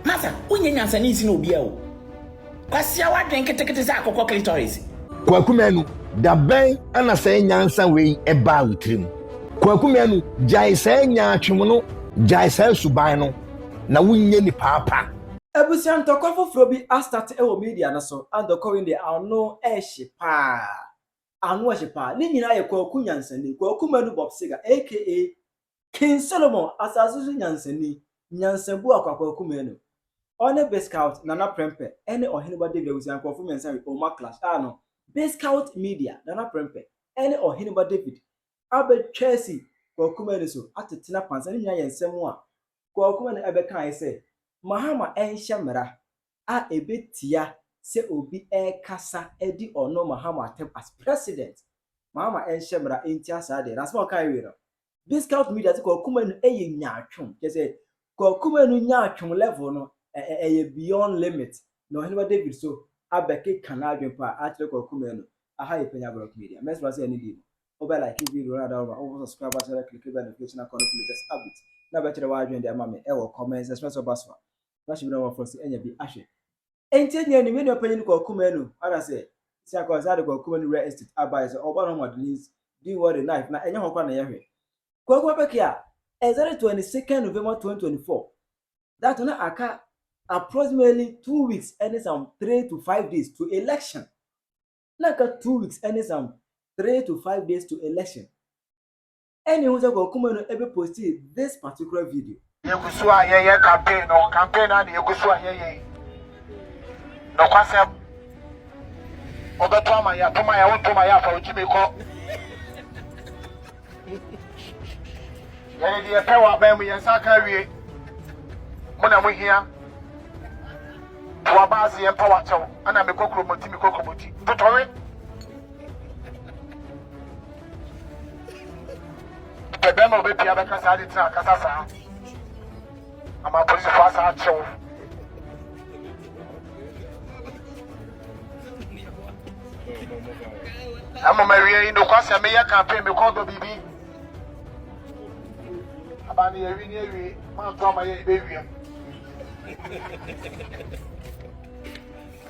Martha, wonyɛ nyansani nsen obiara o. Kwasia w'adwen ketekete sɛ akokɔ clitoris. Kwaku Manu, da bɛn na saa nyansa wei baa wo tirim? Kwaku Manu, gyae saa nyaatwom no, gyae saa suban no, na wonyɛ nipaa pa. Abusua ntɔkwa foforɔ bi astate wɔ media no so a ntɔkwa wei deɛ ano hye paa, ano hye paa. Ne nyinaa yɛ Kwaku Nyansani, Kwaku Manu Bob Seger aka King Solomon, asase so nyansani, nyansabu a kwakwa kum no, ɔne Biscout, Nana Prempeh, ne Ɔheneba David abusua nkurɔfo mmiɛnsa we Omar Clash a no, Biscout Media, Nana Prempeh, ne Ɔheneba David abɛtwa asi Kwaku Manu so atetena pansa. Ne nyinaa yɛ nsɛm a Kwaku Manu bɛkaeɛ sɛ Mahama nhyɛ mmara a ɛbɛtia sɛ obi rekasa de ɔno Mahama atɛm as president. Mahama nhyɛ mmara ntia saa adeɛ no. Asɛm a ɔkaeɛ wei no, discount media sɛ Kwaku Manu yɛ nyaatwom. Kyerɛ sɛ Kwaku Manu nyaatwom level no, ɛyɛ beyond limit. Na Ɔhenemaa David so abɛkeka n'adwene pa akyerɛ Kwaku Manu. Aha yɛ Panya Blog Media. Mɛsrɛ wo sɛ ɛno di mu. Wobɛ like video no anaa woma wobɔ subscribe ahyɛ na click bell notification icon no for latest updates. Na bɛkyerɛ w'adwene de ama me wɔ comments section. Ɛsɛ sɛ ɔba so a, na hyɛ bi na wɔn afɔso anya bi ahwɛ. Enti enya ni, me nua panyin kɔɔ kuma nu, ana sɛ, sia kɔɔ saa de kɔɔ kuma nu rɛ estate abae sɛ ɔba no hɔ ma de his doing what he like, na ɛnyɛ hɔ koraa na yɛhwɛ. Kwaku Abɛkɛ a, exactly twenty second November twenty twenty four, that na aka approximately two weeks ɛne some three to five days to election, na aka two weeks ɛne some three to five days to election. Ɛnna ehu sɛ Kɔkuma no ɛbɛposti this particular video. Yɛgu so a yɛyɛ campaign no, campaign no a na yɛgu so a yɛyɛ yi. Nokwasɛm, wobɛtɔ ama yɛ, toma yɛ, wontoma yɛ afa wo gyimi kɔ. Yɛde deɛ pɛ wɔ aban mu, yɛn nsa aka awie. Mo na mo hia. Toa baase yɛn pa wakyɛw, ɛna mekɔ kuromoti, mekɔ kuromoti. Totɔwe. ɛdɛn na ɔbɛpia bɛka saa de tena akasa saa ama apolisifo asa akyew ama ma wie yi nokwasɛ meyɛ campaign mekɔ dɔ biribi aba ne yɛwi ne awie manto ama yɛ ɛbɛwiam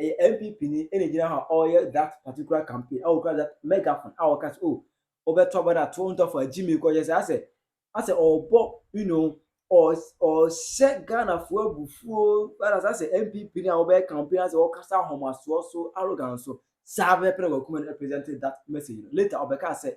ɛyɛ npp ni ɛna gyina hɔ a ɔyɛ that particular campaign a ɔkura that megaphone a ɔka sɛ oh ɔbɛtɔ bɔ da to ntɔfo a gyimi kɔyɛ sɛ asɛ asɛ ɔbɔ you know ɔhyɛ ghanafoɔ abufuo whereas asɛ npp ni a ɔbɛyɛ campaign asɛ ɔkasa ahomasoɔ so arrogance so saa bɛpɛ na wakuma no represent that message later ɔbɛka sɛ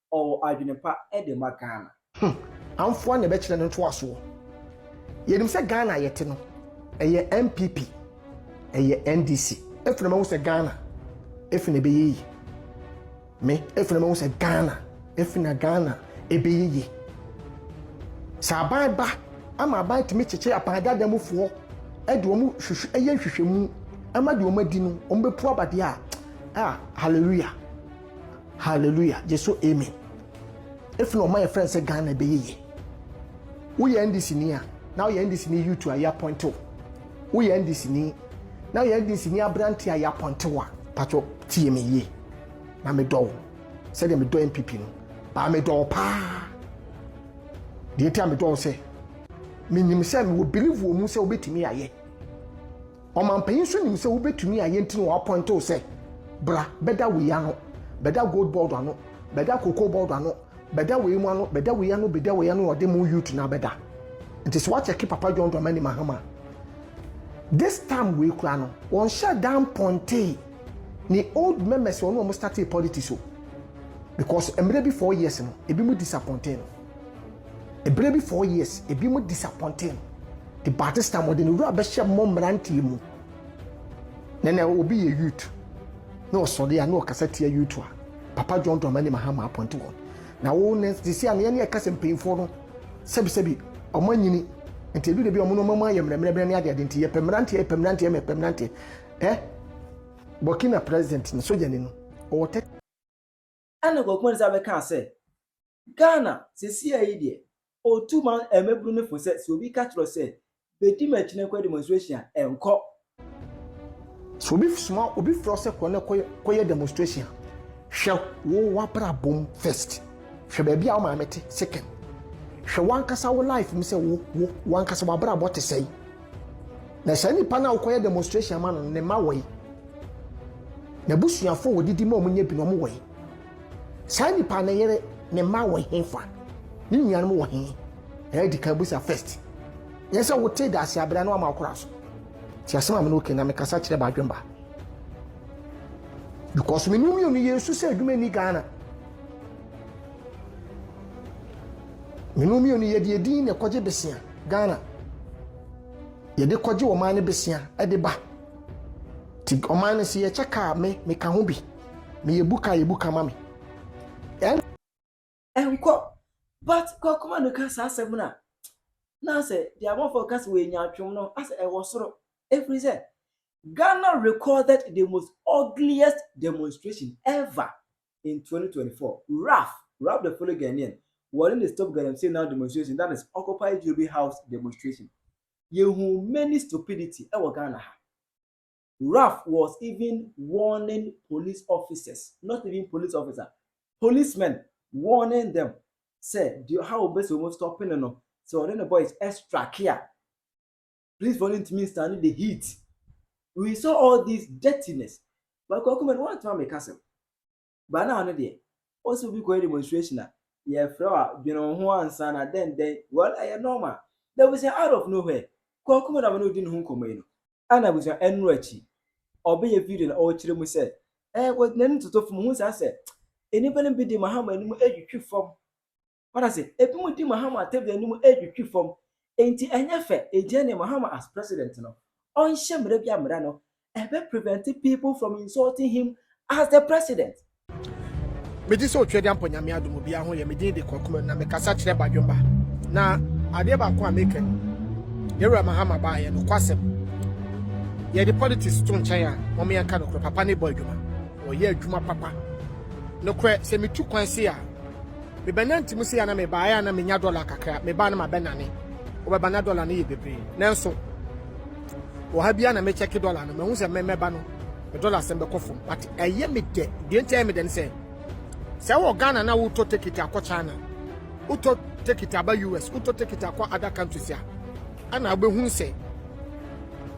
ɔwɔ adwene pa de ma Ghana. Hum! Amfoa na ɛbɛkyerɛ no ntoasoɔ. Yɛnim sɛ Ghana a yɛte no, ɛyɛ NPP, ɛyɛ NDC. Afei na mahu sɛ Ghana, afei na ɛbɛyɛ yie. Me, afei na mahu sɛ Ghana, afei na Ghana ɛbɛyɛ yie. Sɛ aban ba, ama aban tumi kyekye apaadaada mufoɔ, ɛde wɔn hwehwɛ, ɛyɛ nhwehwɛmu, ɛma deɛ wɔn adi no, wɔn bɛpu abadeɛ a, ah, hallelujah. Hallelujah gye so amen. Efi na ɔma yɛ friend sɛ Ghana ɛbɛyɛ yie. Woyɛ NDC ni a na woyɛ NDC ni youth a yɛapɔnte wo. Woyɛ NDC ni na woyɛ NDC ni aberante a yɛapɔnte wo a patwɔ tie me yie na medɔ wo sɛdeɛ medɔ NPP no baa medɔ wo paa. Deɛ nti a medɔ wo sɛ menim sɛ mewɔ believe wɔ mu sɛ wobɛtumi ayɛ. Ɔmampanyin nso nim sɛ wobetumi ayɛ nti na wɔapɔinte wo sɛ, Bra bɛda wei ano, bɛda gold board ano, bɛda cocoa board ano, bɛda wei mu ano, bɛda wei ano, bɛda wei ano, ɔde mo youth na bɛda. Nti sɛ woakyɛke Papa John Dramani Mahama this time wei koraa no, wɔnhyɛ da mpɔntee ne old members wɔn a wɔstartee politics o. Because mmerɛ bi four years no, ebi mu disappointee no. Bere bi four years ebinom disappointee no nti by this time wɔde ne wura bɛhyɛ mmɔ mmeranteɛ mu. Na na obi yɛ youth na ɔsɔre a na ɔkasa tia youth a Papa John Dramani Mahama appoint wɔn. Na wo ne sisi a na yɛne ɛka sɛ mpanyinfoɔ no sɛbisɛbi wɔn anyini nti edu de bi wɔn nneɛma mu ayɛ mmerɛmmerɛmmerɛ ne adeade nti yɛpɛ mmeranteɛ yɛpɛ mmeranteɛ ma yɛpɛ mmeranteɛ ɛ Burkina president ne sogyani no ɔwɔ tɛ Ɛna Kwaku Mensah bɛkaa sɛ, Ghana sesiaa yi deɛ, ɔtu ma mmabunu no fo sɛ, sɛ obi ka kyerɛ wo sɛ, bɛdi m'akyi na kɔyɛ demonstration a, nkɔ. Sɛ obi soma obi frɛ wo sɛ kɔ na kɔyɛ demonstration a, hwɛ wo w'abrabɔ mu first. Hwɛ baabi a wo maame te, Sekem. Hwɛ w'ankasa wo life mu sɛ wo, wo, w'ankasa w'abrabɔ te sɛn. Na saa nipa no a wokɔyɛ demonstration ama no ne mma wɔ yi n'abusuafo a wɔdidi ma wɔn nyɛ bi no wɔn wɔ yi saa nipa ne yere ne mma wɔ he fa ne nuanom wɔ he ɛyɛ di kan busa first nyɛ sɛ wote da ase abira no ama ɔkora so ti asɛm a me no oke na mekasa kyerɛ baadwemba because me no mmienu yɛ nsu sɛ adwuma ni ghana Menu mmienu yɛde edin na ɛkɔgye besia Ghana. Yɛde kɔgye ɔman no besia ɛde ba. Ti ɔman no sɛ yɛkyɛ kaa me meka ho bi. Meyɛ bu ka yɛ bu ka ma me. Ɛnkɔ but kɔkɔma no ka saa asɛm no a na sɛ deɛ amafo ka sɛ wɔanya atwom no asɛ ɛwɔ soro ɛfiri sɛ Ghana recorded the most ugliest demonstration ever in twenty twenty four, Raf, Raf the fully Ghanaian, wɔne no stop galamsey now demonstration that is occupy Jobi house demonstration. Yɛhu many stupidity wɔ Ghana ha. Raf was even warning police officers, not even police officer, policemen warning them sɛ deɛ ɔha wɔn bɛ sɛ wɔn stopping no, sɛ ɔne ne boys strike a, Police fo no ntumi nstande the heat. We saw all this dirtiness. But Kwaku Madu wantumi ammeka asɛm. But na ɔno deɛ, ɔse obi kɔyɛ demonstration a, yɛfrɛ wo a, dwene wo ho ansa na dɛn dɛn. Well, ɛyɛ normal. Na abusua out of nowhere, Kwaku Madu a me ne wo di ne ho nkɔmmɔ yi no, a na abusua ɛno akyi ɔbɛyɛ video na ɔrekyerɛ mu sɛ, eh, wɔ n'anim toto fam, hu saa sɛ nnipa no bi de mahama anim retwitwi fam. Wate ase? Ebinom di Mahama tebea no mu retwitwi fam. Enti ɛnyɛ fɛ. Enti ɛne Mahama as president no, ɔnhyɛ mmara bi a mmara no ɛbɛ prevent people from insulting him as the president. Megye sɛ otwa diampɔ nyame adom obiara ho yɛ me din de kwakuman na mekasa kyerɛ badwemba na adeɛ baako a meka ni yɛwura mahama baa yɛ nokwasɛm yɛde politics to nkyɛn a wɔn yɛnka nokorɛ papa ne bɔ adwuma ɔyɛ adwuma papa nokorɛ sɛ metu kwan se a Mebɛnante mu sei a na mebaeɛ a na menya dɔla kakra, mebaa no mabɛnane. Wobɛba na dɔla no yɛ bebree. Nanso wɔ ha biara na mekyɛke dɔla no, mahu sɛ mɛmɛba no me dɔla asɛm bɛkɔ fam. But ɛyɛ me dɛ, deɛ nti ɛyɛ me dɛ ne sɛ, sɛ wɔ Ghana na wotɔ tekiti akɔ China, wotɔ tekiti aba US, wotɔ tekiti akɔ other countries a, ɛna wobɛhunu sɛ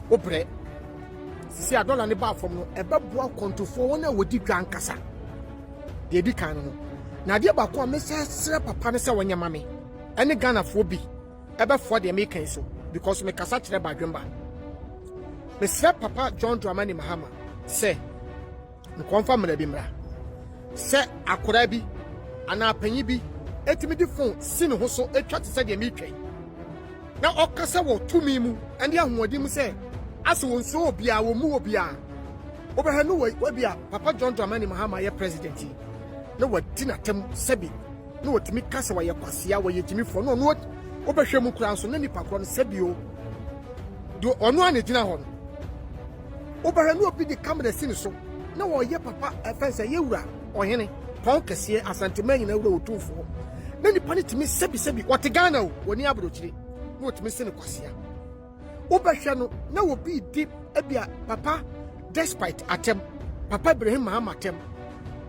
wobrɛ. Sisi a dɔla no baa fam no, ɛbɛboa kwantufoɔ wɔn a wɔdi dwa ankasa. deɛ ɛdi kan no no na adeɛ baako a mesɛ srɛ papa no sɛ wɔnyɛ ma me ɛne ghanafoɔ bi ɛbɛfoa deɛ meka yi so because mekasa kyerɛ badwemba mesrɛ papa john dramani mahama sɛ nkɔmfa mmara bi mmara sɛ akwadaa bi anaa panyin bi ɛtumi de fon si ne ho so ɛtwa te sɛ deɛ metwa yi na ɔkasa wɔ tumi mu ɛne ahoɔden mu sɛ asɛ wɔn nsuo obiara wɔn mu obiara Wobɛhwɛ no wei, wabi a Papa John Dramani Mahama yɛ president yi, na wadi n'atam sɛbi, na wɔtumi ka sɛ wɔyɛ kwasea, wɔyɛ gyimifoɔ, na ɔno wobɛhwɛ mu koraa nso na nipa korɔ no sɛbi o, do ɔno a na gyina hɔ no, wobɛhwɛ na obi de kamera si ne so, na wɔyɛ papa ɛfɛn sɛ yɛ wura ɔhene, pɔn kɛseɛ, asanteman nyinaa wura otumfoɔ, na nipa no tumi sɛbi sɛbi, ɔte Ghana o, ɔni aburokyire, na wɔtumi se no kwasea. Wobɛhwɛ no na obi redi ebia papa despite atɛm, papa Ibrahim Mahama atɛm,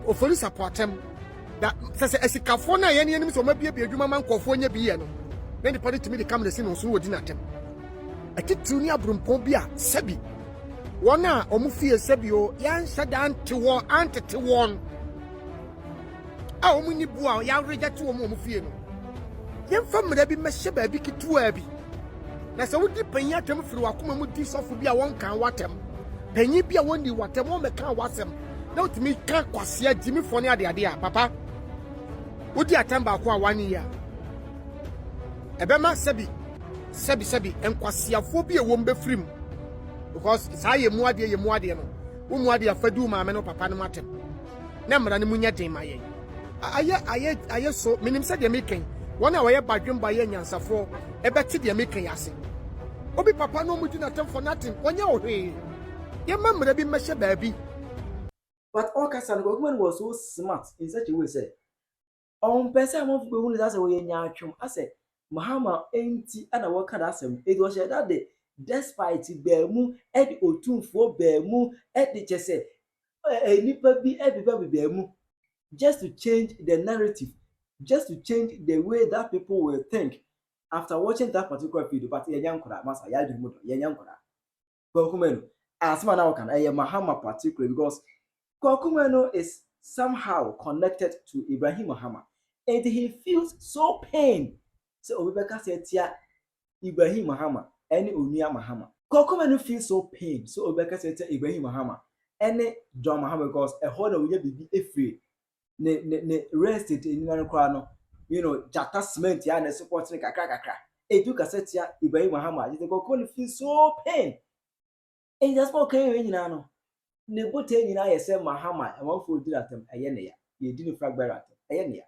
Oforis Apo atɛm. Da sɛ sɛ asikafoɔ no a yɛne yɛnim sɛ wɔabiebie adwuma ma nkurɔfoɔ nyɛ bi yɛ no na nipa no tumi de kamera si no so na wɔdi no atɛm. Atitiriw ne aburumpɔn bi a sɛbi wɔn a wɔn fie sɛbi o yɛanhyɛ da ante wɔn antete wɔn. a wɔnni bo a yɛaregyɛte wɔn wɔ wɔn fie no, yɛmfa mmara bi mmɛhyɛ baabi ketewaa bi. Na sɛ wodi panyin atɛm firi w'akoma mu di sɔfo bi a wɔnkan w'atɛm, panyin bi a wɔnni w'atɛm, wɔmmɛkan w'asɛm, na wotumi ka kwasea, gyimifɔ ne adeade a, papa, wodi atɛm baako a wanyɛ yie a, ɛbɛma sɛbi sɛbi sɛbi nkwaseafoɔ bi a wɔn bɛfiri mu because saa yɛ mu adeɛ yɛ mu adeɛ no wo mu adeɛ afadu maame no papa no mu atɛm. na mmara no mu nyɛ den ma yɛn. Ayɛ, ayɛ, ayɛ so. Menim sɛ deɛ meka yi, wɔn a wɔyɛ badwemba a ɛyɛ anyansafoɔ bɛte deɛ meka yi ase. Obi papa na wɔdi no atɛm for nothing, ɔnyɛ wo hwee. Yɛmma mmara bi mmɛhyɛ baabi. But ɔkasa no, Kwaku Manu was so smart in such a way sɛ, ɔmmpɛ sɛ amanfo behu no dza sɛ ɔyɛ nyaatwom, asɛ Mahama ntsi na wɔkã dɛm asɛm no, ntsi ɔhyɛɛ da dɛ despite baamu de otumfuo baamu de kyɛ sɛ nnipa bi de bɛba baamu just to change the narrative, just to change the way that people will think after watching that particular video but yɛnyɛ nkora masa yɛn adwene mu dɔ yɛnyɛ nkora. Kwaku Manu. Asɛm a na woka no ɛyɛ Mahama particularly because Kwaku Manu is somehow connected to Ibrahim Mahama and he feels so pain sɛ obi bɛkasa atia Ibrahim Mahama ɛne Onua Mahama. Kwaku Manu feels so pain sɛ obi bɛkasa atia Ibrahim Mahama ɛne John Mahama because ɛhɔ na wonya biribi ɛfiri ne ne ne real estate nnwuma no koraa no you know gyata cement yɛ a na ɛso pɔtene kakra kakra etu kasa tia ibrahim muhammad yɛ nkurɔfoɔ no feel so pain ɛnti asɛm a ɔka yɛ nyinaa no ne botae nyinaa yɛ sɛ muhammad amanfoɔ di n'atam ɛyɛ ne ya yɛdi ne flag bearer atam ɛyɛ ne ya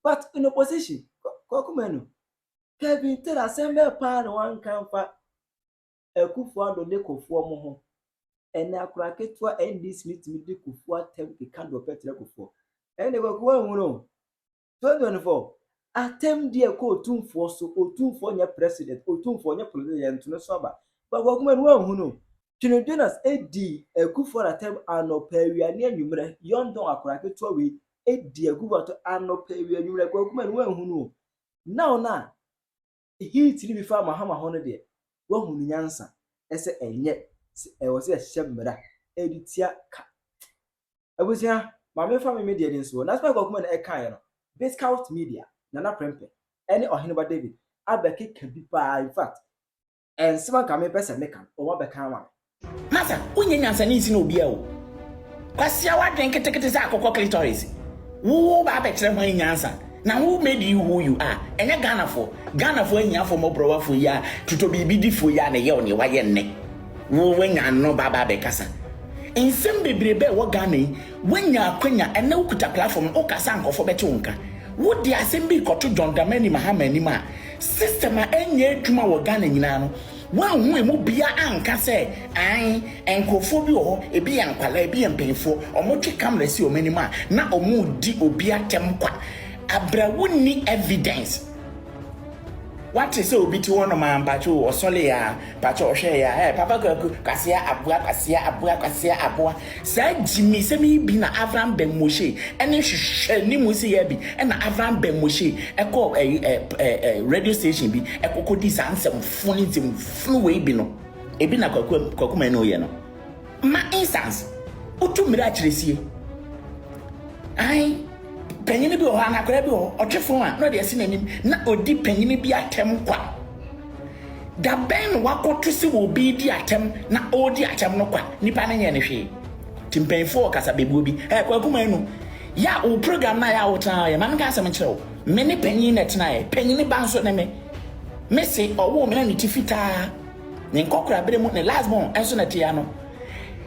but in opposition kɔkɔmɛ no kevin tell asɛm bɛɛ paa na wanka mfa Akufo-Addo ne Kofoɔ mo ho. Ɛnɛ akora ketewa NDC no tumi de Kufuor atam keka deɛ ɔpɛ kyerɛ Kufuor. Ɛnde Kwaku anhunu o. 2024 atam di ɛkɔ Otumfoɔ so, Otumfoɔ nyɛ President, Otumfoɔ nyɛ Politician, yɛnto no so aba. But Kwaku man wanhunu o. Twene Jonas di Akufo-Addo atam anɔpa awia ne anwummerɛ. Yɔndɔn akora ketewa wei di Akufo-Addo anɔpa awia anwummerɛ. Kwaku man wanhunu o. Now no a Heat no bi faa Mahama hɔ no deɛ, woahu ne nyansa sɛ ɛnyɛ sɛ ɛwɔ sɛ yɛhyehyɛ mmara de tia ka. Abusua, ma memfa me me deɛ de nsoɔ. Nanso Michael Kumah na ɛkaeɛ no, Biscout Media, Nana Prempeh, ne Ɔheneba David abɛkeka bi paa, in fact, nsɛm a nka mempɛ sɛ meka no, wɔabɛka ama me. Martha, wonyɛ nyansani nsen obiara o. Kwasia w'adwen ketekete sɛ akokɔ clitoris. Wo wo ba abɛkyerɛ hwan nyansa? Na who made you who you are? Ɛnyɛ Ghanafoɔ. Ghanafoɔ ahiafoɔ mmɔborɔwafoɔ yi a tutɔbiribidifoɔ yi a na ɛyɛ wo nea wayɛ nnɛ. Wo wanya ano ba aba abɛkasa. Nsɛm bebrebe a ɛwɔ Ghana yi wanya akwanya ɛnnɛ wokuta platform no wokasa a nkurɔfoɔ bɛte wo nka. Wode asɛm bi rekɔto John Dramani Mahama anim a system a ɛnyɛ adwuma wɔ Ghana nyinaa no Woanhu emu biaa anka sɛ aane, nkorɔfoɔ bi wɔ hɔ, ebi yɛ nkwadaa, ebi yɛ mpaninfoɔ, wɔtwe camera si wɔn anim a na wɔredi obi atɛm kwa. Abrɛ wonni evidence. Woate sɛ obi te hɔnom aa mpakyɛw o, ɔsɔleeɛ aa mpakyɛw, ɔhwɛɛeɛ aa ɛɛ Papa Kwaku, Kwasea Aboa, Kwasea Aboa, Kwasea Aboa. Saa gyimiisɛm yi bi na Avram ben Moshe ne nhwehwɛnimu nsiyɛɛ bi na Avram ben Moshe kɔɔ ɛyi ɛ ɛ ɛ radio station bi kɔkɔ dii saa nsɛm funi nsɛm funu wei bi no ebi na Kwaku Kwaku Manu yɛ no ma instance wotu mmiri akyerɛ sie ae panyini bi wɔ hɔ anaa akwadaa bi wɔ hɔ ɔtwe fon a na ɔde asi n'anim na ɔdi panyini bi atɛm kwa. Da bɛn na wɔakoto sɛ obi redi atɛm na ɔredi atɛm no kwa? Nnipa no nyɛɛ no hwee. Nti mpanyimfo wɔ kasabebuo bi, Ɛɛ Kwaku Manu, yɛ a wo program no a yɛ a wotenaeɛ, ma menka asɛm nkyerɛ wo, me ne panyin na ɛtenaeɛ, panyin ba nso ne me. Me se ɔwoo me na ne ti fitaa, ne nkɔkorabere mu, ne last born nso na ɛte ano.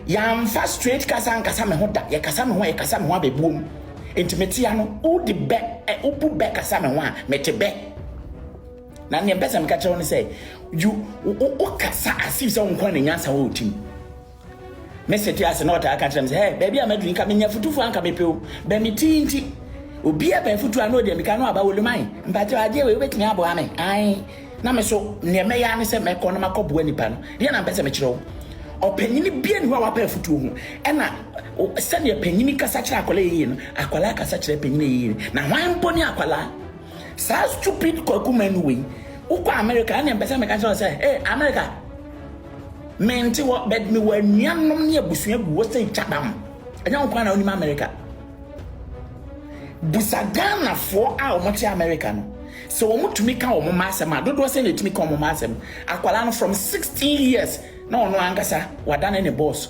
Yɛamfa straight kasa ankasa me ho da, yɛkasa me ho a yɛkasa me ho abɛbuom. Nti mete ano, wode bɛ, ɛ, wobu bɛ kasa me ho a, mete bɛ. Na nea mpɛ sɛ meka kyerɛ wo ne sɛ, you wokasa as if sɛ wo nkoa na nyansa wɔ wo tim. Me se te ase na ɔtaa ka kyerɛ me sɛ, hɛ, baabi a maduru nka menya futufoɔ anka mepɛ o, bɛ me ti nti. Obia pɛ afutuo a na ɔde amika no aba Olumae, mpakyɛw adeɛ wei wobɛtumi aboa me? Ae. Na me so, nea mɛyɛ ara ne sɛ mɛkɔ na makɔ boa nipa no. Deɛ na mpɛ sɛ mekyerɛ wo, ɔpanyini bia nni hɔ a wapɛ afutuo ho. Ɛna sɛdeɛ panyini kasa kyerɛ akwadaa yie no, akwadaa kasa kyerɛ panyini yie. Na hwan mpo ne akwadaa? Saa stupid kwaku manu wei wokɔ America ɛne mpɛsɛ meka kyerɛ sɛ hey America mente hɔ but me wɔ anuanom ne abusua gu wɔ sɛ kyabam ɛnyɛ wo kwan na wonim America busa Ghanafoɔ a wɔte America no sɛ wɔn tumi ka wɔn mma asɛm a dodoɔ sɛ na ɛtumi ka wɔn mma asɛm akwadaa no from 16 years na ɔno ankasa wadane ne boss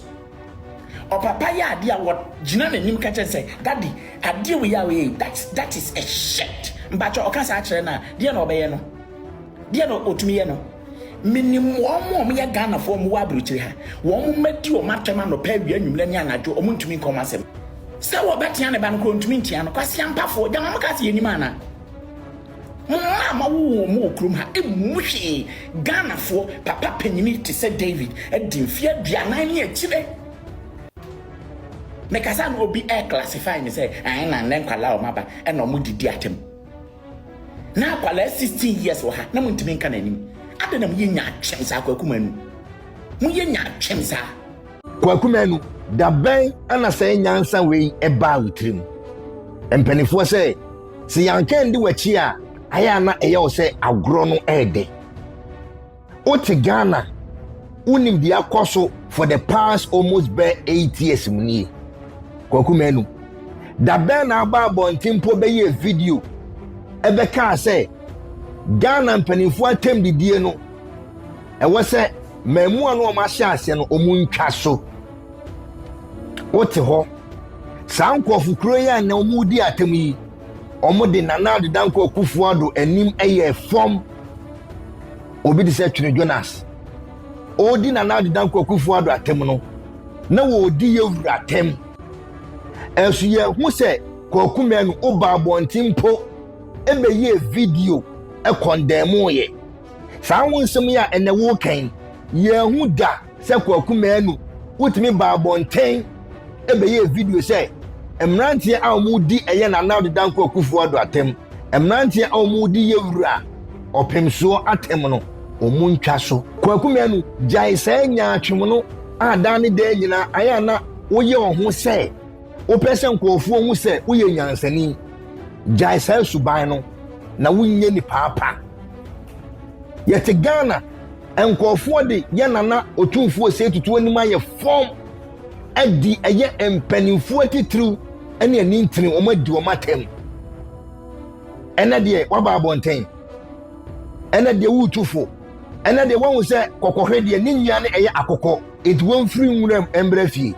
Ɔpapa yɛ adeɛ a wɔgyina n'anim ka kyerɛ no sɛ, Daddy, adeɛ wei a woyɛ yi, that, that is a shirt. Mpakyɛ ɔka saa kyerɛ no a, deɛ na ɔbɛyɛ no? Deɛ na ɔtumi yɛ no? Menim wɔn a wɔyɛ Ghanafoɔ a wɔwɔ aburokyire ha. Wɔn mma di wɔn atɛm anɔpa, awia, anwummerɛ ne anadwo. Wɔntumi nka wɔn asɛm. Sɛ wɔbɛtea ne ba no koraa, wɔntumi ntea no. Kwasiampafoɔ, gyama moka sɛ yɛnnim anaa? Mo mma a moawo wɔn wɔ kurom ha mmu mo hwee. Ghanafoɔ papa panyini te sɛ David adi mfeɛ aduanan ne akyire. Mekasa no obi ɛ classify me sɛ ae na nnɛ nkwadaa a wɔaba ɛna wɔn de di atam. Na akwadaa 16 years wɔ ha na montumi nka n'anim. Adɛn na moyɛ nyaatwem saa kwaku manu. Moyɛ nyaatwem saa. Kwaku Manu, da bɛn na saa nyansa wei baa wo tirim? Mpanimfoɔ sɛ, sɛ yɛanka ndi w'akyi a, ayɛ a na ɛyɛ wo sɛ agorɔ no ɛɛdɛ. Wote Ghana, wonim deɛ akɔ so for the past almost bɛ eight years mu nie. Kwaku Manu, da bɛn na aba abɔnten mpo bɛyɛɛ video ɛbɛkaa sɛ Ghana mpanimfoɔ atɛm didie no ɛwɔ sɛ mmaamua no wɔn ahyɛ aseɛ no wɔn ntwa so wote hɔ saa nkurɔfo kuro yi a na wɔn redi atam yi wɔn de nana adedankɔ akufo ado anim yɛ fam obi te sɛ twene jonas ɔredi nana adedankɔ akufo ado atam no na wɔredi yɛ wura atam ɛso yɛ ho sɛ kɔɔku mmienu ɔba abɔnten mpo ɛbɛyɛ video ɛkɔndɛn mu yɛ. Saa ho nsɛm yi a ɛnnɛ woreka yi, yɛanhu da sɛ Kwaku Manu wotumi baa abɔnten bɛyɛɛ video sɛ mmeranteɛ a wɔredi ɛyɛ Nana Ado Dankwa Akufo Addo atɛm, mmeranteɛ a wɔredi Yewura Ɔpemsoɔ atɛm no, wɔntwa so. Kwaku Manu, gyae saa nyaatwomno a daa ne daa nyinaa ayɛ a na woyɛ wo ho sɛ wopɛ sɛ nkurɔfoɔ hu sɛ woyɛ nyansani. Gyae saa suban no na wonyɛ nipaa pa. Yɛte Ghana, nkurɔfoɔ de yɛ Nana Otumfuo Osei Tutu anim ayɛ fam adi ɛyɛ mpanimfoɔ atitiriw ne anintini wɔn adi wɔn atɛm. Ɛnɛ deɛ waba abɔnten, ɛnɛ deɛ woretu fo, ɛnɛ deɛ wɔahu sɛ kɔkɔhwɛ deɛ ne nyia ne ɛyɛ akokɔ. Enti wɔmfiri nwuram mmra fie.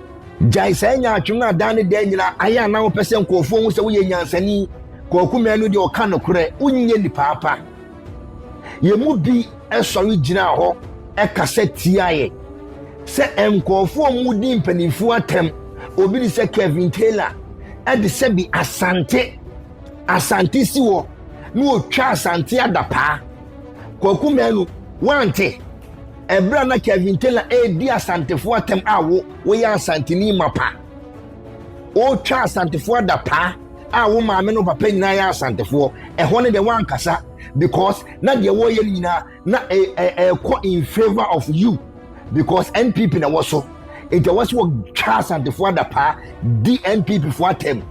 Gyae saa nyaatwom no a daa ne daa nyinaa ayɛ a na wopɛ sɛ nkurɔfoɔ hu sɛ woyɛ nyansani. Kwaku Manu deɛ ɔka nokorɛ, wonyɛ nipaa pa. Yɛn mu bi sɔre gyinaa hɔ kasa tiaeɛ sɛ nkurɔfoɔ a wɔredi mpanimfoɔ atɛm, obi de sɛ Kevin Taylor de sɛbi Asante, Asante si hɔ na ɔtwa Asante adapaa. Kwaku Manu, woante? Ɛberɛ a na Kevin Taylor redi Asantefoɔ atɛm a wo woyɛ Asanteni mapa. Wotwa Asantefoɔ adapaa a wo maame no papa nyinaa yɛ Asantefoɔ. Ɛhɔ no deɛ woankasa because na deɛ wɔyɛ no nyinaa na ɛkɔ in favour of you because NPP na wɔ so. Nti ɛwɔ sɛ wɔtwa Asantefoɔ adapaa di NPP foɔ atɛm.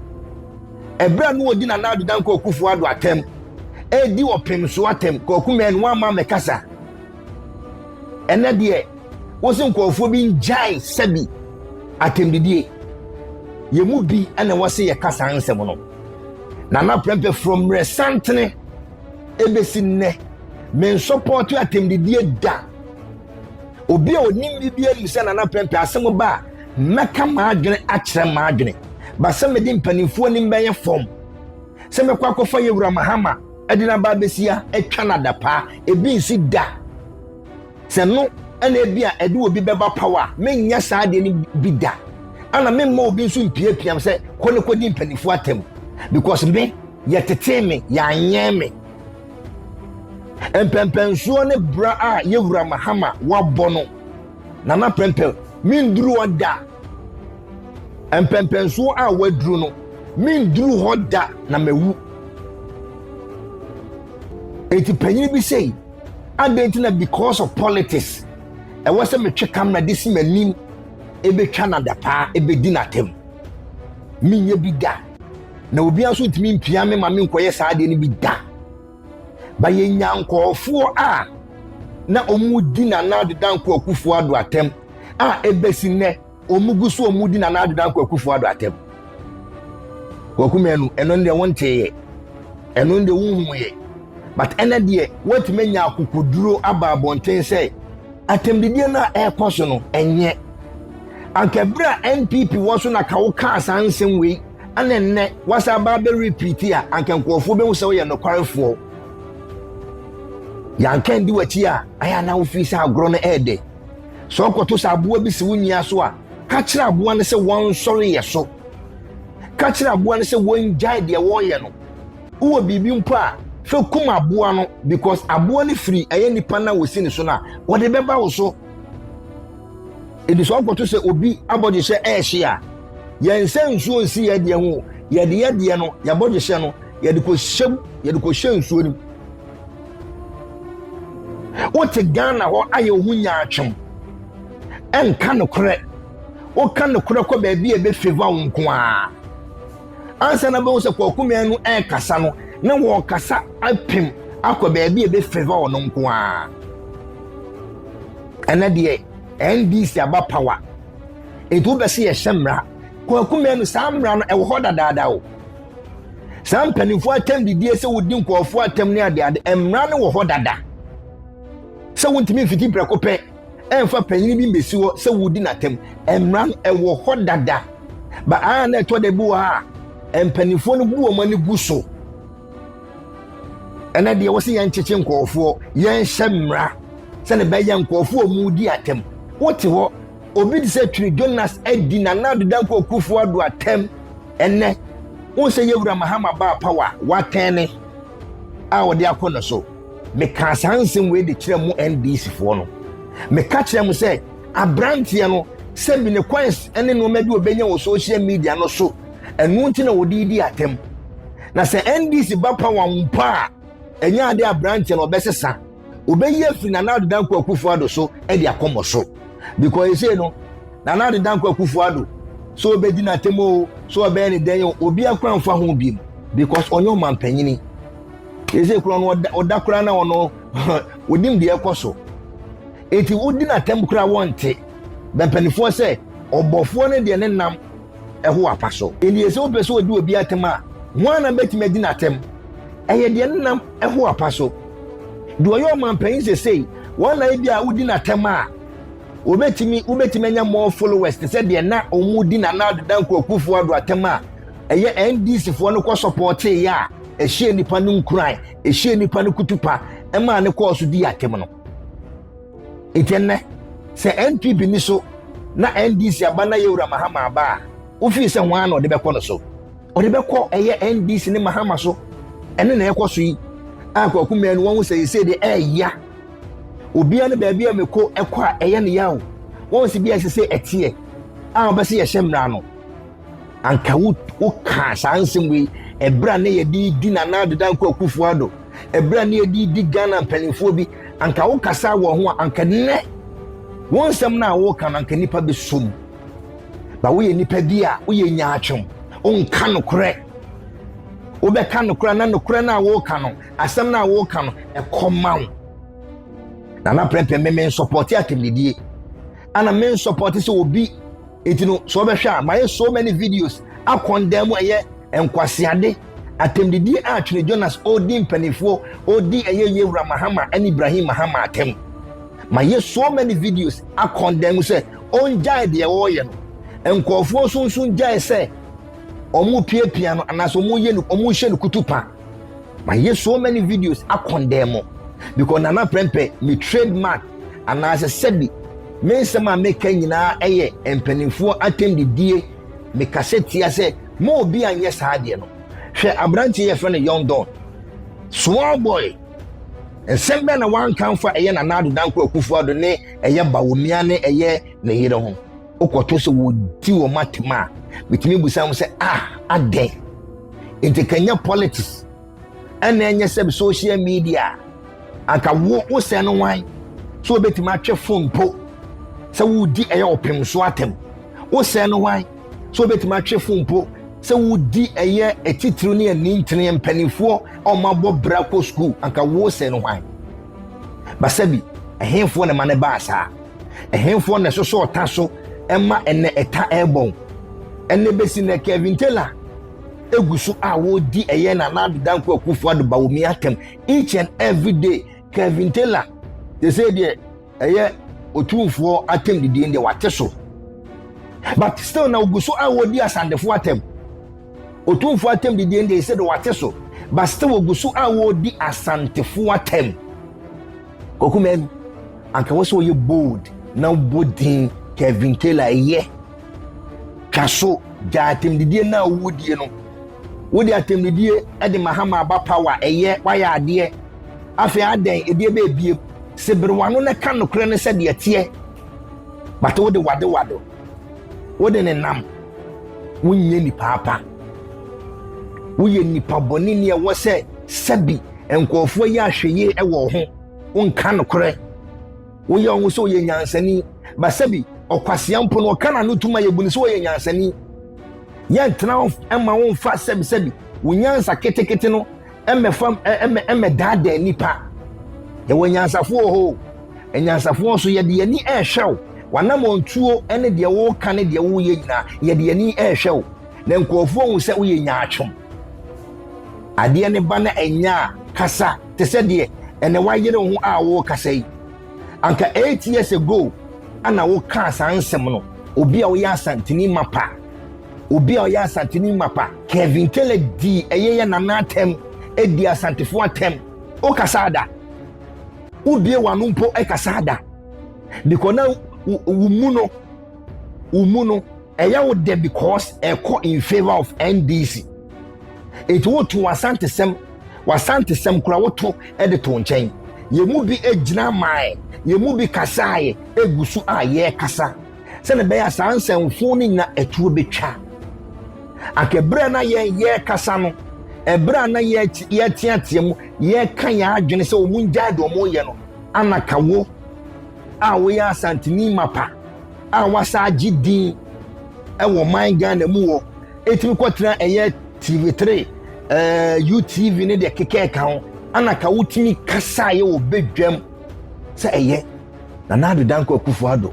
Ɛberɛ a na wɔdi Nana Ado Dankwa Akufo-Addo atɛm, ɛredi ɔpem so atɛm, Kwaku Mɛn, woamma mɛkasa. ɛnɛ deɛ wosi nkurɔfoɔ bi ngyae sɛbi atɛmdidie yɛn mu bi na wɔsi yɛ kasa nsɛm no na na prɛmpɛ from mmerɛ santene ebesi nnɛ mensɔpɔɔto atɛmdidie da obi a onim bi bi anim sɛ nana prɛmpɛ asɛm ba a mɛka m'adwene akyerɛ m'adwene basɛ mede mpanimfoɔ anim bɛyɛ fam sɛ mɛkɔ akɔfa yɛ wura mahama Ɛde no aba abɛsi ha, atwa no adapaa, ebi nsi da. Sɛ no ɛna ebi a ɛde obi bɛba paw a, menyɛ saa adeɛ no bi da. Ana memma obi nso mpiapiam sɛ kɔ ne kɔdi mpanimfoɔ atam. Because me, yɛtetee me, yɛanyɛn me. Mpɛmpɛnsoɔ ne bra a yɛwura Mahama wabɔ no, Nana Prempeh, menduru hɔ da. Mpɛmpɛnsoɔ a waduru no, menduru hɔ da na mawu. eti panyin bi sei adɛn nti na because of politics ɛwɔ sɛ metwe kamera de si m'anim ebetwa na dapaa ebedi n'atam menyɛ bi da na obi nso ntumi mpia me ma me nkɔyɛ saa adeɛ no bi da ba yɛnya nkɔɔfoɔ a na wɔn di nana deda nkɔɔkufoɔ ado atam a ebesi nnɛ Wɔn gu so wɔn di Nana Ado Dankwa Akufo Ado atam. Kwaku Manu, ɛno deɛ wontee yɛ, ɛno deɛ wonhu yɛ. But ɛnɛ deɛ woatumi anya akokoduro aba abɔnten sɛ atɛmdidie no a ɛrekɔ so no ɛnyɛ. Anka berɛ a NPP wɔ so na ka wokaa saa nsɛm wei ɛna ɛnnɛ wasa aba abɛ repeat a anka nkurɔfoɔ bɛhu sɛ woyɛ nokwarefoɔ. Yɛanka ndi w'akyi a ayɛ na wofii sɛ agorɔ no ɛɛdɛ. Sɛ ɔkɔto sɛ aboa bi si wo nyia so a, ka kyerɛ aboa no sɛ wɔnsɔre yɛ so. Ka kyerɛ aboa no sɛ wɔngyae deɛ wɔreyɛ no. Wowɔ biribi mpo a, fa kum aboa no because aboa no firi ɛyɛ nipa no a wɔsi ne so no a, wɔde bɛba wo so. Ɛti sɛ ɔkɔto sɛ obi abɔdwehyɛ ɛrehye a, yɛnsɛ nsuo nsi yɛ deɛ ho, yɛde yɛ deɛ no, yɛabɔdwehyɛ no, yɛde kɔhyɛ mu, yɛde kɔhyɛ nsuo no mu. wote ghana hɔ ayɛ wo ho nyaatwom ɛnka nokorɛ woka nokorɛ kɔ baabi a ɛbɛfeva wo nko a ansa na bɛhu sɛ kɔkumea no ɛrekasa no na wɔkasa apem akɔ baabi a ɛbɛfeva wo no nko a ɛnɛ deɛ ndc aba power ɛti wobɛsɛ yɛhyɛ mmara kɔkumea no saa mmara no ɛwɔ hɔ dadaada o saa mpanimfoɔ atɛm didie sɛ wodi nkurɔfoɔ atɛm ne adeade mmara no wɔ hɔ dada sɛ wontumi mfiti prɛko pɛ ɛmfa panyini bi mbɛsi hɔ sɛ wodi n'atɛm mmara no ɛwɔ hɔ dada ba a na ɛtɔ da bi wɔ ha a mpanimfoɔ no bu wɔn ani gu so ɛnɛ deɛ wɔ sɛ yɛnkyekye nkurɔfoɔ yɛnhyɛ mmara sɛne bɛyɛ nkurɔfoɔ a wɔdi atɛm wote hɔ obi te sɛ twiri jonas adi nana adedankɔ kufoɔ ado atɛm Ɛnnɛ, wohu sɛ Yɛwura Mahama baa Power a watɛn ne a ɔde akɔ no so. Mekaa saa nsɛm wei de kyerɛ mo NDC foɔ no. Meka kyerɛ mo sɛ abranteɛ no sɛ bi ne coins ne nneɛma bi ɔbɛnya wɔ social media no so ɛno nti na ɔde di atɛm. Na sɛ NDC ba Power mpo a ɛnyɛ ade abranteɛ no ɔbɛsesa. Obeyi afi Nana Addo Dankwa Akufo Addo so de akɔ mo so. Because ɛsei no, Nana Addo Dankwa Akufo Addo, sɛ ɔbɛdi n'atɛm o, sɛ ɔbɛyɛ ne dɛn o, obi akora mfa ho bi mu. Because ɔnyɛ ɔmampanyini. Ɛsei koraa no, ɔda koraa na ɔno, ɔnim deɛ ɛkɔ so. Enti wodi n'atɛm koraa wɔnte. Bɛmpanifoɔ sɛ, ɔbɔfoɔ no deɛ ne nam ho apa so. Eye sɛ wopɛ sɛ wodi obi atɛm a, hwan na betumi adi no atɛm? Ɛyɛ deɛ ne nam ho apa so. Deɛ ɔyɛ ɔmampanyin sesei, wɔn na ebia wodi no atɛm a, wobetumi wobetumi anya more followers te sɛ deɛ na wɔdi Nana Addo Dankwa Akufo-Addo atɛm a ɛyɛ NDC foɔ no kɔ sɔpɔɔtee yɛ a ɛhyɛɛ nnipa no nkuran, ɛhyɛɛ nnipa no kutupa, ɛmaa no kɔɔ so dii atɛm no. Enti nnɛ, sɛ NPP nniso na NDC aba na Yawura Mahama aba a, wo feel sɛ hwan na ɔde bɛkɔ no so? Ɔde bɛkɔ ɛyɛ NDC ne Mahama so. Ɛne na ɛkɔ so yi a Kwaku Mmɛɛ no wɔn sɛ yɛsɛ deɛ ɛɛya. Obiara ne baabi a meko ɛkɔ a ɛyɛ ne yaw. Wɔn sɛ bi a ɛsɛ sɛ ɛteɛ a ɔbɛsɛ yɛhyɛ mmara no. anka wokaa saa nsɛm wei ɛberɛ a na yɛde di Nana Adeda Dankwa Akufo-Addo ɛberɛ a na yɛde di Ghana mpanimfoɔ bi anka wokasa wɔ ho a anka nnɛ wo nsɛm no a woka no anka nnipa bɛsɔ mu ba woyɛ nnipa bi a woyɛ nyaatwom wonka nokorɛ wobɛka nokorɛ na nokorɛ no a woka no asɛm no a woka no ɛkɔma wo nana prɛmpɛ me mensɔpɔte atɛmdidie ana mensɔpɔte sɛ obi Enti no, sɛ wɔbɛhwɛ a, mayɛ so many videos akɔndan mu a ɛyɛ nkwaseade, atɛmdidie a Twene Jonas ɔredi mpanimfoɔ, ɔredi ɛyɛ yie wura Mahama ne Ibrahim Mahama atɛm. Mayɛ so many videos akɔndan mu sɛ ɔngyae deɛ ɔreyɛ no. Nkurɔfoɔ nso nso ngyae sɛ wɔrepiapia no anaasɛ wɔreyɛ no wɔrehyɛ no kutupa. mayɛ so many videos akɔndɛn mo because nana prɛmpɛ me trademark anaasɛ sɛbi me nsɛm a meka nyinaa ɛyɛ mpanimfoɔ atɛmdidie mekasa tia sɛ ma obi anyɛ saa adeɛ no hwɛ aberanteɛ yɛfrɛ no young don small boy nsɛm bɛn na wanka mfa ɛyɛ nana adodankɔ akufoɔ ado ne ɛyɛ bawomia ne ɛyɛ ne yere ho Wokɔto sɛ wɔdi wɔn atɛm a, metumi bisa wɔn sɛ, ah, adɛn? Nti ka nyɛ politics, ɛna ɛnyɛ sɛ social media, anka wo wosɛ no wan? So wobɛtumi atwe fon mpo sɛ wodi ɛyɛ ɔpem so atɛm? Wosɛ no wan? So wobɛtumi atwe fon mpo sɛ wodi ɛyɛ atitiriw ne anintene mpanimfoɔ a wɔabɔ bra kɔ sukuu, anka wosɛ no wan? Basabi, ɛhefoɔ na ɛma no baa saa? Ɛhefoɔ na ɛsosɔ ɔta so ɛma ɛnɛ ɛta ɛrebɔn? Ɛnɛ bɛsi nɛ Kevin Taylor egu so a wɔredi ɛyɛ na Nana Dankwa Akufo-Addo Bawumia atɛm each and every day. Kevin Taylor te sɛ deɛ ɛyɛ otumfoɔ atɛm didie deɛ wate so but still na ogu so a wɔredi asandefoɔ atɛm otumfoɔ atɛm didie deɛ ɛsɛ de wate so but still ogu so a wɔredi asantefoɔ atɛm. Kwaku man, anka wɔ sɛ ɔyɛ bold na bɔ din Kevin Taylor yɛ. Twa so gya atɛmdidie na awudie no. Wode atɛmdidie de Mahama aba power ɛyɛ wayɛ adeɛ. Afei adɛn ɛdeɛ bɛɛbie seberewano na ka nokorɛ no sɛdeɛ teɛ. Bate wode wade wado. Wode ne nam. Wonyɛ nipa apa. Woyɛ nipa bɔne ni ɛwɔ sɛ sɛbi nkurɔfoɔ yɛ ahwɛyie ɛwɔ ho. Wonka nokorɛ. Woyɛ ɔho sɛ ɔyɛ nyansani. Ba sɛbi ɔkwasea mpo no ɔka n'ano tuma yɛbu no sɛ ɔyɛ nyansani. Yɛntena ɛma wonfa sɛbi sɛbi. Wo nyansa ketekete no mmɛfa mmɛdaadaa nnipa. Yɛwɔ anyansafoɔ wɔ hɔ o. Anyansafoɔ nso yɛde yɛn ani rehwɛ wo. W'anammɔntuo ne deɛ woreka ne deɛ woreyɛ nyinaa, yɛde yɛn ani rehwɛ wo. Na nkurɔfoɔ ahu sɛ woyɛ nyaatwom. Adeɛ no ba na ɛnyɛ a, kasa te sɛ deɛ ɛnɛ woayere wo ho a worekasa yi. Anka eight years ago ana wokaa saa nsɛm no, obi a woyɛ Asanteni mapa. Obi a ɔyɛ Asanteni mapa, Kevin Kellett dii ɛyɛyɛ Nana atɛm, ɛdii Asantefo atɛm. Wo kasaa da? Wo bue w'ano mpo kasaa da? Because na wo mu no, wo mu no, ɛyɛ wo dɛ because ɛkɔ in favor of NDC. Eti wo to w'asantesɛm, w'asantesɛm kora wo to ɛde to nkyɛn. Yɛn mu bi gyina mae, yɛn mu bi kasaeɛ, ɛgu so a yɛrekasa. sɛdeɛ ɛbɛyɛ a saa nsɛmfo no nyina atuo bɛtwa anka ɛberɛ a na yɛrekasa no ɛberɛ a na yɛteatea mu yɛreka yɛn adwene sɛ wɔn ngyae deɛ wɔreyɛ no anaka wo a woyɛ asantini mapa a wasa agye din ɛwɔ man ghana mu wɔ ɛtumi kɔtena ɛyɛ tv3 ɛɛ utv ne deɛ kekɛɛka ho anaka wotumi kasaeɛ wɔ bɛdwam sɛ ɛyɛ Nana Addo Dankwa Akufo-Addo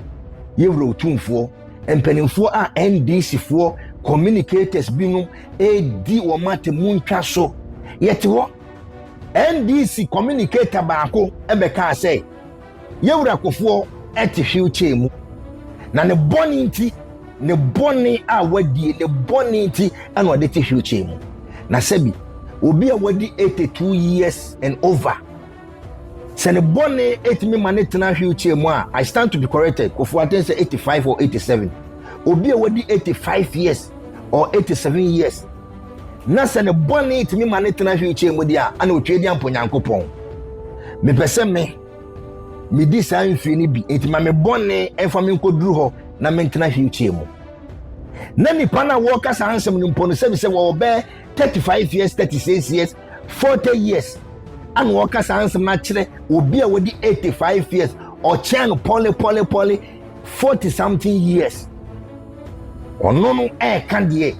yɛ Wura Otumfoɔ. Mpanimfoɔ a NDCfoɔ communicators binom redi wɔn atemu ntwa so. Yɛte hɔ. NDC communicator baako bɛkaa sɛ, Yɛwura Kofoɔ te wheelchair mu. Na ne bɔne nti, ne bɔne a wadie, ne bɔne nti na ɔde te wheelchair mu. Na sɛbi, obi a wadi 82 years and over Sɛ ne bɔne tumi ma no tena wheelchair mu a, I stand to be corrected, Kofoɔ Aten sɛ 85 or 87. Obi a wadi 85 years or 87 years na sɛ ne bɔne tumi ma no tena wheelchair mu deɛ a, ana otwa di ampo Nyankopɔn. Mepɛ sɛ me medi saa mfie no bi enti ma me bɔne mfa me nkɔduru hɔ na mentena wheelchair mu na nipa no a wɔreka saa nsɛm no mpo no sɛbi sɛ wɔwɔ bɛɛ 35 years 36 years 40 years ana ɔka saa nsɛm no akyerɛ obi a wɔdi 85 years ɔkyɛn no pɔlepɔlepɔle 40 something years ɔno no ɛɛka deɛ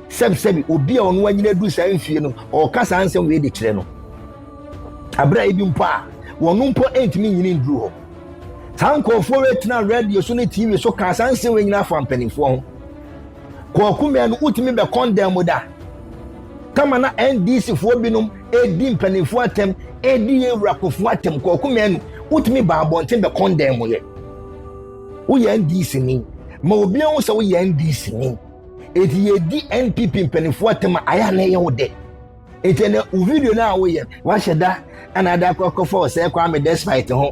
sɛbisɛbi obi a ɔno anyina du saa mfie no ɔka saa nsɛm wei de kyerɛ no abira ebi mpo a wɔn mpo ntumi nyini nduru hɔ saa nkurɔfoɔ wei tena radio so ne tv so kaa saa nsɛm wei nyina afa mpanimfoɔ ho kɔɔko mmea no wotumi bɛ kɔndɛn mu da Kama na NDC foɔ binom redi mpanimfoɔ atɛm redi yɛn wura kofo atɛm kɔɔko mmienu wotumi ba abɔnten bɛ kɔndɛn mu yɛ woyɛ NDC ni ma obi ahu sɛ woyɛ NDC ni eti yɛdi NPP mpanimfoɔ atɛm a ayɛ anayɛ wo dɛ eti ɛnɛ wo video no a woyɛ wahyɛ da ana ada akɔ akɔfa ɔsɛ Kwame Despite ho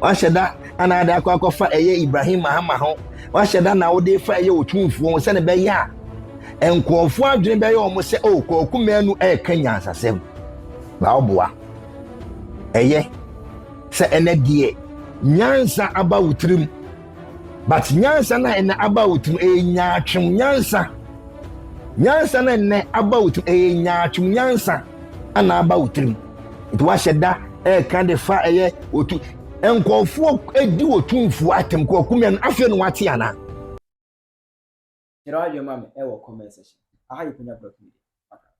wahyɛ da ana ada akɔ akɔfa ɛyɛ Ibrahim Mahama ho wahyɛ da na wode fa ɛyɛ otumfuo ho sɛne bɛyɛ a nkurɔfoɔ adwene bɛyɛ wɔn sɛ o oh, kɔɔku mmienu ɛreka nyansasɛm na ɔboa ɛyɛ sɛ ɛnɛ deɛ nyansa aba wo tirim but nyansa na ɛnɛ aba wo tirim ɛyɛ nyaatwem nyansa nyansa na ɛnɛ aba wo tirim ɛyɛ nyaatwem nyansa ɛna aba wo tirim nti wahyɛ da ɛreka de fa ɛyɛ otu nkurɔfoɔ edi otumfuo atem kɔɔku mmienu afei na wate anaa. Kyerɛ w'adwene ma me ɛwɔ comment section. Aha yɛ Kwanya Blog Media. Bye bye.